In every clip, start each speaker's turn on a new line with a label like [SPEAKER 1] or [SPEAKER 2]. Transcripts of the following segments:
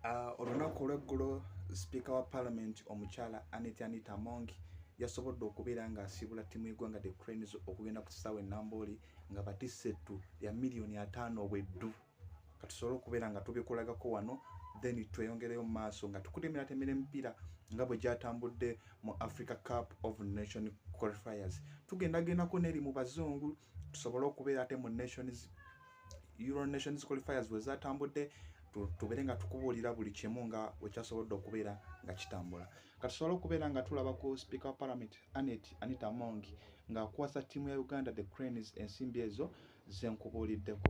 [SPEAKER 1] Ah, olunaku olweggulo sipiika wa palamenti omukyala anet anita mong yasobodde okubeera ng'asiibula ttiimu y'eggwanga the cranes okugenda ku kisaawe enambooli nga batisse ettu lya miliyoni ataano obweddu katusobole okubeera nga tubikulagako wano then tweyongereyo mu maaso nga tukude emiratemera emipiira nga bwe gyatambudde mu africa cup of nation qualifiers tugendagendako neri mu bazungu tusobole okubeera ate mu nations Euro Nations qualifiers bwe zatambudde tubeere nga tukubuulira buli kimu nga wekyasobodde okubeera nga kitambula kati tusobole okubeera nga tulaba ku speaker wa parliament anet anita mongi ng'akwasa ttiimu ya uganda the cranes ensimbi ezo zenkubuuliddeko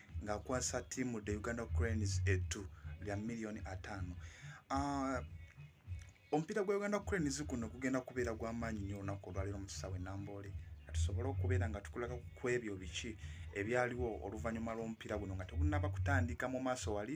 [SPEAKER 1] ng'akwasa ttiimu the uganda cranes ettu lya miliyoni ataano ah, omupiira gwa uganda cranes guno gugenda kubeera gw'amaanyi nnyo olunaku olwaleero mu kisaawe namboole tusobole okubeera nga tukulaga ku ebyo biki ebyaliwo oluvannyuma lw'omupiira guno nga tegunnaba kutandika mu maaso wali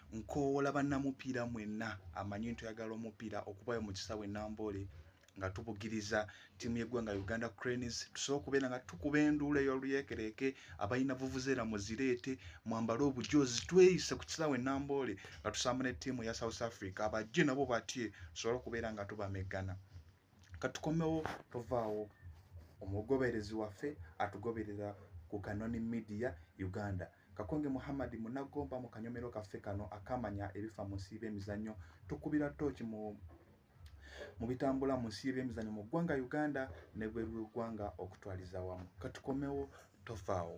[SPEAKER 1] nkoowola bannamupiira mwenna amanyi nti oyagala omupiira okubayo mu kisaawe namboole nga tubugiriza ttiimu y'eggwanga uganda cranes tusobola okubeera nga tukuba enduula ey'oluyeekereeke abalina vuvuzeera muzireete mwambale obujoozi tweyise ku kisaawe namboole nga tusamba ne ttiimu ya south africa abajje nabo batye tusobole okubeera nga tubameggana katukomewo tovaawo omugoberezi waffe atugoberera ku kanoni media uganda Kakonge Muhammad Munagomba mu kanyomero kaffe kano akamanya ebifa mu nsi y'emizannyo tukubira tooki mu mu bitambula mu nsi y'emizannyo mu ggwanga Uganda ne bweru w'eggwanga okutwaliza wamu katukomewo tofaawo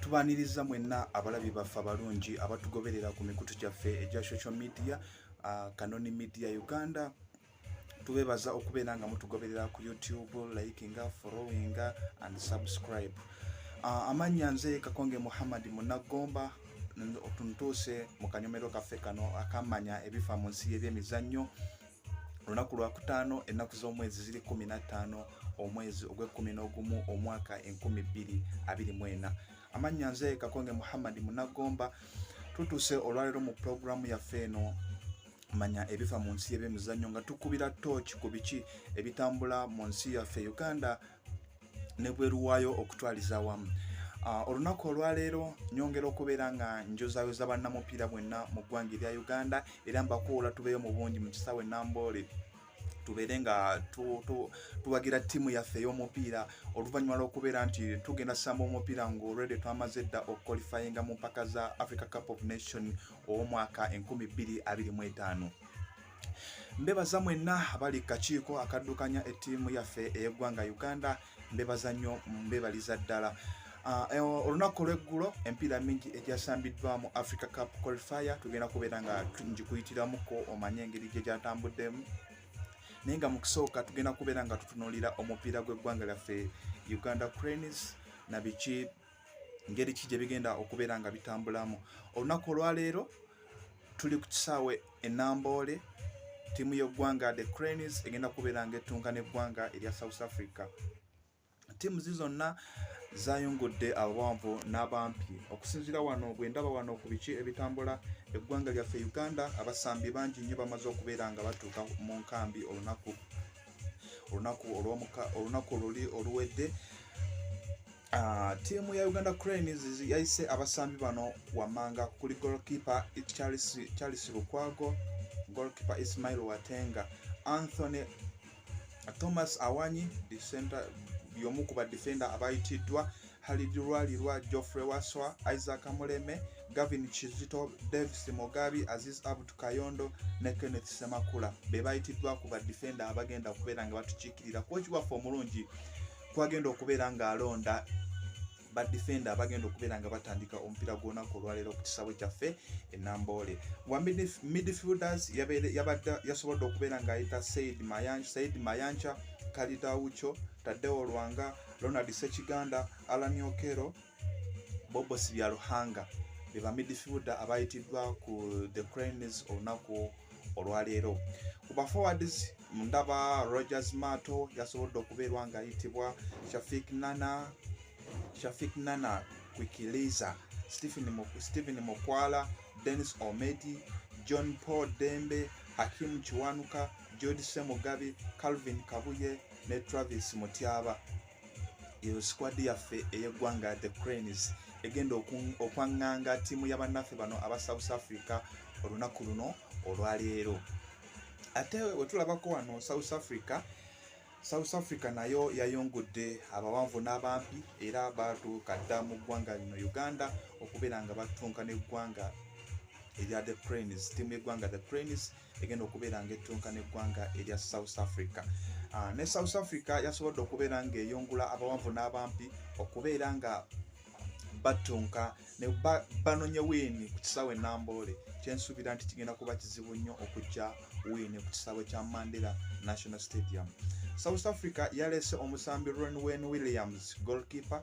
[SPEAKER 1] tubaniriza mwenna abalabi baffe abalungi abatugoberera ku mikutu gyaffe egya social media uh, kanoni media uganda tubebaza okubeera nga mutugoberera ku youtube likinga followinga and subscribe uh, amannya nze kakonge muhammad munagomba tuntuuse mu kanyomero kaffe kano akamanya ebifa mu nsi y'ebyemizannyo olunaku lwakutaano ennaku z'omwezi ziri kumi nattaano omwezi ogw'ekkumi n'ogumu omwaka enkumi bbiri abiri mu ena amannya nze kakonge muhammadi munagomba tutuuse olwaleero mu pulogulaamu yaffe eno manya ebiva mu nsi y'ebyemizannyo nga tukubira tooki ku biki ebitambula mu nsi yaffe uganda nebweru waayo okutwaliza awamu Ah, olunaku olwaleero nyongera okubeera nga njozayoza bannamupiira bwenna mu ggwanga erya uganda era mbakuula tubeeyo mu bungi mu kisaawe namboole tubeere nga tuwagira ttiimu yaffe ey'omupiira oluvannyuma lw'okubeera nti tugenda samba omupiira ngaolwede twamaze dda okukolifayinga mu mpaka za africa cup of nation ow'omwaka 225 mbebaza mwenna abali kakiiko akaddukanya ettiimu yaffe ey'eggwanga uganda mbebaza nnyo mbebaliza ddala Ah, eh, olunaku olweggulo empiira mingi egyasambiddwa mu africa cup qualifier tugenda kubeera nga ngikuyitiramuko omanye engeri gye gyatambuddemu naye nga mu kusooka tugenda kubeera nga tutunuulira omupiira gw'eggwanga lyaffe uganda cranes na biki ngeri ki gye bigenda okubeera nga bitambulamu olunaku olwaleero tuli ku kisaawe enamboole ttiimu y'eggwanga the cranes egenda kubeera nga ettunka n'eggwanga erya south africa ttiimu zi zonna zayungudde abawanvu n'abampi okusinziira wano bwe ndaba wano ku biki ebitambula eggwanga lyaffe uganda abasambi bangi nnyo bamaze okubeera nga batuuka mu nkambi olunaku olunaku olw'omuka olunaku oluli oluwedde Ah, ttiimu ya uganda cranes yayise abasambi bano wammanga kuli golkipe charles lukwago golkipe ismail watenga anthony thomas awanyi yomu ku badefenda abayitiddwa halid lwalirwa geoffrey waswa isaac muleme gavin kizito davis mugabi aziz abdu kayondo ne kenneth semakula be bayitiddwa ku badefenda abagenda kubeera nga batukiikirira kwokiwaffe omulungi kwagenda okubeera ng'alonda badefenda abagenda okubeera nga batandika omupiira gw'olunaku olwaleero ku kisaawe kyaffe enamboole wa midfielders yasobodde okubeera ng'ayita said mayanca kalidawuco tadeo lwanga ronald sekiganda alan okero bobo sibyaruhanga be bamidfielder abayitiddwa ku the cranes olunaku olwaleero ku baforwards ndaba rogers mato yasobodde okubeerwa ngaayitibwa shafik nana shafik nana kwikiliza stephen mukwala denis omedi john paul dembe hakimu kiwanuka george semugabi calvin kabuye ne travis mutyaba eyo sikwadi yaffe ey'eggwanga the cranes egenda okwaŋŋanga ttiimu ya bannaffe bano aba south africa olunaku luno olwaleero ate wetulabako wano south africa south africa nayo yayongudde abawanvu n'abampi era batuuka dda mu ggwanga lino uganda okubeera nga batunka n'eggwanga erya the cranes ttiimu y'eggwanga the cranes egenda okubeera nga ettunka n'eggwanga erya south africa ah, ne south africa yasobodde okubeera ng'eyungula abawanvu n'abampi okubeera nga battunka ne banonye wiini ku kisaawe namboole kyensuubira nti kigenda kuba kizibu nnyo okujja wiini ku kisaawe kya mandela national stadium south africa yaleese omusambi ronwen williams golkeeper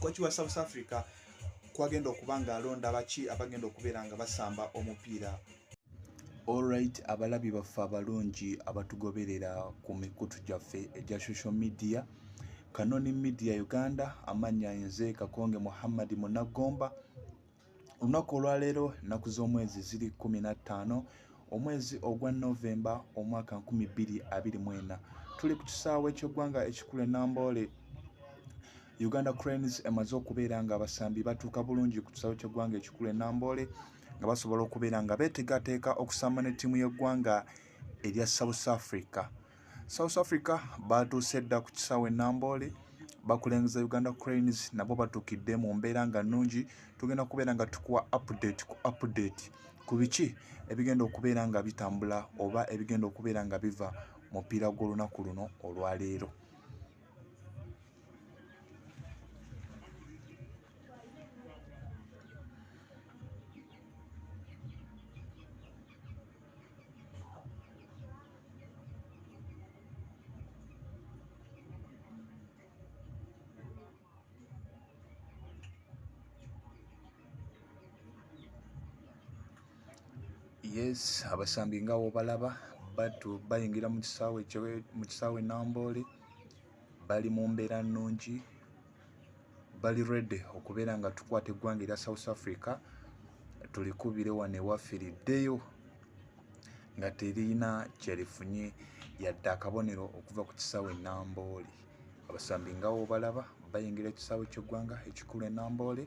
[SPEAKER 1] koci wa south africa kwagenda okuba nga alonda baki abagenda okubeera nga basamba omupiira olright abalabi baffe abalungi abatugoberera ku mikutu gyaffe egya social media kanoni media uganda amanya nze kakonge muhammadi munagomba olunaku olwaleero nnaku z'omwezi ziri 15 omwezi ogwa novemba omwaka 224 tuli ku kisaawe ekyeggwanga ekikulu enamboole uganda cranes emaze okubeera nga abasambi batuuka bulungi ku kisaawe kyeggwanga ekikulu enamboole nga basobola okubeera nga betegateeka okusamba ne ttiimu y'eggwanga erya south africa south africa baatuuse dda ku kisaawe enamboole bakulengeza uganda cranes nabo batuukidde mu mbeera nga nnungi tugenda kubeera nga tukuwa update ku update ku biki ebigenda okubeera nga bitambula oba ebigenda okubeera nga biva mupiira gw'olunaku luno olwaleero yes abasambi nga wobalaba batu bayingira mu kisaawe mu kisaawe namboole bali mu mbeera nnungi bali ready okubeera nga tukwata eggwanga erya south africa tulikubire wano ewaffe liddeyo nga terina kyerifunye yadde akabonero okuva ku kisaawe enamboole abasambi ngawo balaba bayingira ekisaawe kyeggwanga ekikulu enamboole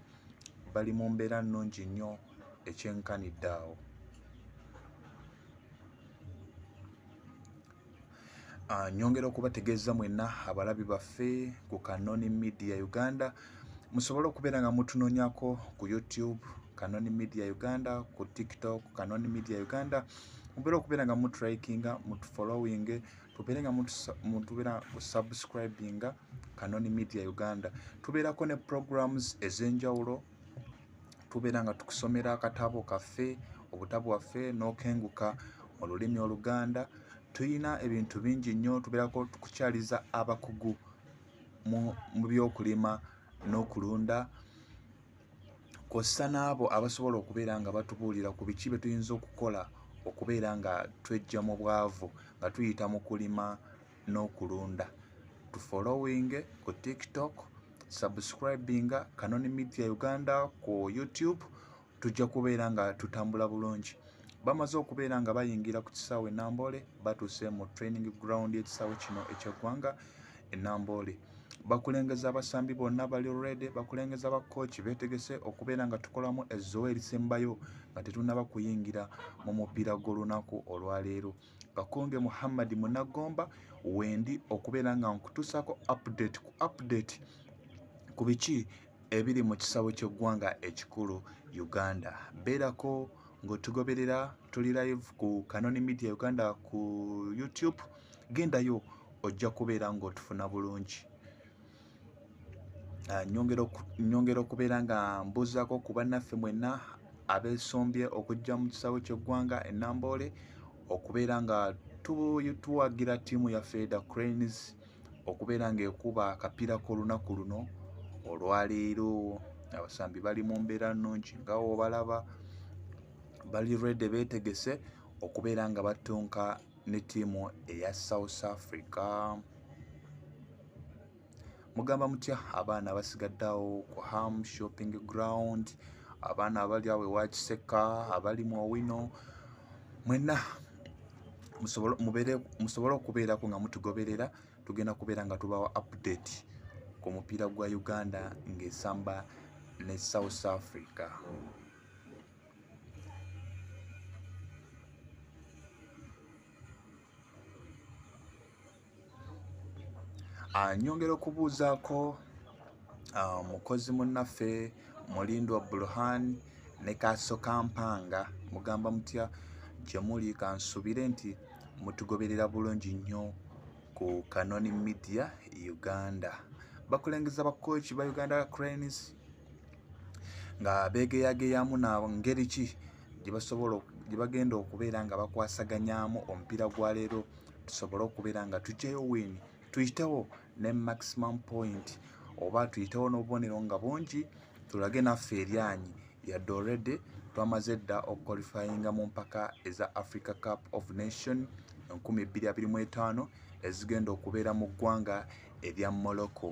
[SPEAKER 1] bali mu mbeera nnungi nnyo ekyenkanidde awo Ah, nyongera okubategeeza mwenna abalabi baffe ku kanoni media uganda musobole okubeera nga mutunonyako ku youtube kanoni media uganda ku tiktok kanoni media uganda mubeera okubeera nga mutrikinga mutufollowing tubeere nga mutubeera kusubscribinga kanoni media uganda tubeerako ne programs ez'enjawulo tubeera nga tukusomera akatabo kaffe obutabo waffe n'okenguka mu lulimi oluganda tulina ebintu bingi nnyo tubeerako tukukyaliza abakugu mu byokulima n'okulunda kw'ossa n'abo abasobola okubeera nga batubuulira ku biki bye tuyinza okukola okubeera nga twejja mu bwavu nga tuyita mu kulima n'okulunda tufolowinge ku tiktok subscribinga kanoni media uganda ku youtube tujja kubeera nga tutambula bulungi bamaze okubeera nga bayingira ku kisaawe enamboole batuuse mu training ground ekisaawe kino ekyeggwanga enamboole bakulengeza abasambi bonna bali redi bakulengeza bakooki betegese okubeera nga tukolamu ezzowa erisembayo nga tetunaba kuyingira mu mupiira gw'olunaku olwaleero kakonge muhammad munagomba wendi okubeera nga nkutuusako update ku update ku biki ebiri mu kisawo ky'eggwanga ekikulu uganda beerako ng'otugoberera tuli live ku kanoni media uganda ku youtube gendayo ojja kubeera ng'otufuna bulungi ah, nyongera okubeera nga mbuzaako ku bannaffe mwenna abeesombye okujja mu kisaawe ky'eggwanga enamboole okubeera nga tuwagira ttiimu yaffe the cranes okubeera ng'ekuba akapiira k'olunaku luno olwaleero abasambi bali mu mbeera nnungi nga obalaba bali rede beetegese okubeera nga battunka ne ttiimu eya south africa mugamba mutya abaana abasigadde awo ku ham shopping ground abaana abali awo ewakiseka abali mu owino mwena musobole okubeerako nga mutugoberera tugenda kubeera nga tubawa update ku mupiira gwa uganda ng'esamba ne south africa Ah, nyongera okubuuzaako ah, mukozi munnaffe mulindwa burhan ne kaaso kampanga mugamba mutya gye muli kansubire nti mutugoberera bulungi nnyo ku kanoni media uganda bakulengeza bakooki ba uganda cranes nga beegeyageyamu na ngeri ki gye bagenda okubeera nga bakwasaganyaamu omupiira gwa leero tusobole okubeera nga tugyayo win tuyitewo ne maximum point oba tuyitewo n'obubonero nga bungi tulage naffe eryanyi yadde olredy twamaze dda okukwalifayinga mu mpaka eza africa cup of nation 225 ezigenda okubeera mu ggwanga erya morocco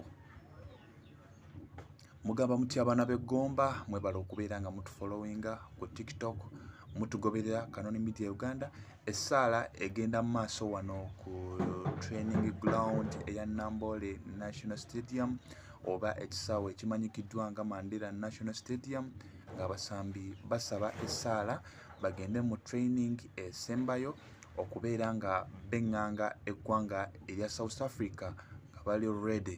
[SPEAKER 1] mugamba mutya abaana b'eggomba mwebala okubeera nga mutufollowinga ku tiktok mutugoberera kanoni media uganda essaala egenda mu maaso wano ku training ground eya nambole national stadium oba ekisaawe ekimanyikiddwa nga mandela national stadium ng'abasambi basaba essaala bagende mu training esembayo okubeera nga beŋŋanga eggwanga erya south africa nga bali ready